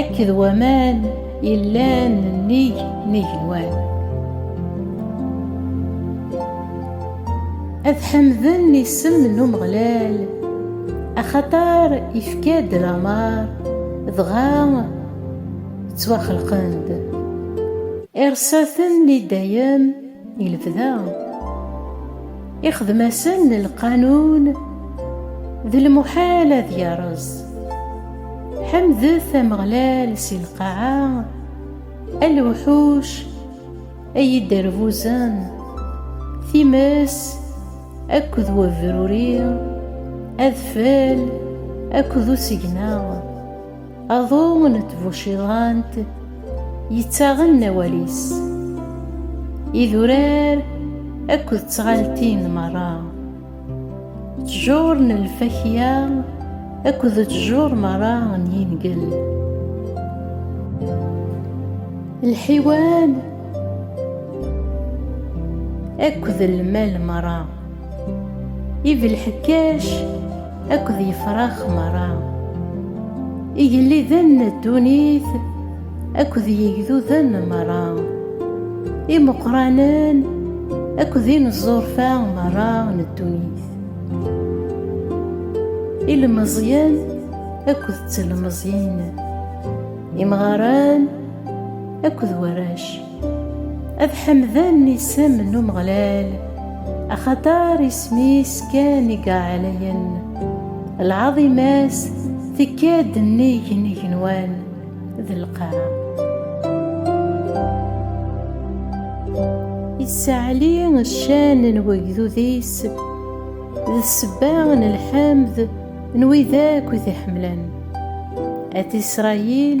Akked waman yellan nnig n igenwan. Ad ḥemden isem n Umeɣlal, axaṭer ifka-d lameṛ, dɣa ttwaxelqen-d. Iṛeṣṣa-ten i dayem. i lebda ixdem-asen lqanun d lmuḥal ad yerreẓ ḥemdet ameɣlal si lqaɛa a lewḥuc ay iderbuzen times akked webruri adfel akked usegna Aḍu n tbuciḍant yettaɣen awal-is, idurar akked tɣaltin merra, ttjur n lfakya akked ttjur merra n yingel, lḥiwan akked lmal merra, ibelḥekkac, Akked yefrax meṛṛa. Igelliden n ddunit akked yigduden meṛṛa. Imeqqranen akked ineẓẓurfa meṛṛa n ddunit. Ilmeẓyen akked ttelmeẓyin. Imɣaren akked warrac. Ad ḥemden isem n Umeɣlal, axaṭer isem-is kan i yeɛlayen, lɛaḍima-s tekka-d nnig n igenwan d lqaɛa. Issaɛli ccan n wegdud-is, d ssebba n lḥemd n wid akk i t-iḥemmlen. At Isṛayil,